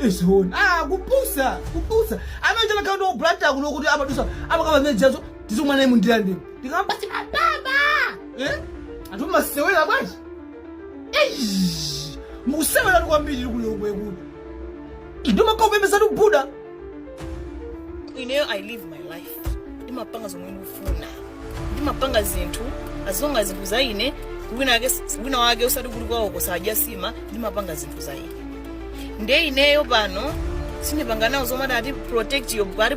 ezona ah kupusa kupusa amene chakhala ndi obranta kuno kuti amadusa amakaba mejazo tizomwe naye mundira ndimo ndikamba ti mababa eh anthu masewera bwanji eish mukusewera kwambiri kulongwe kuno ndio makao pembezatu buda ineyo i live my life ndimapanga zomwe ndikufuna ndimapanga zinthu as long as zinthu za ine wina wake wina wake usati kuli kwawo kosadya nsima ndimapanga zinthu za ine nde ineyo pano sindipanga nawo zomwe amati protect your body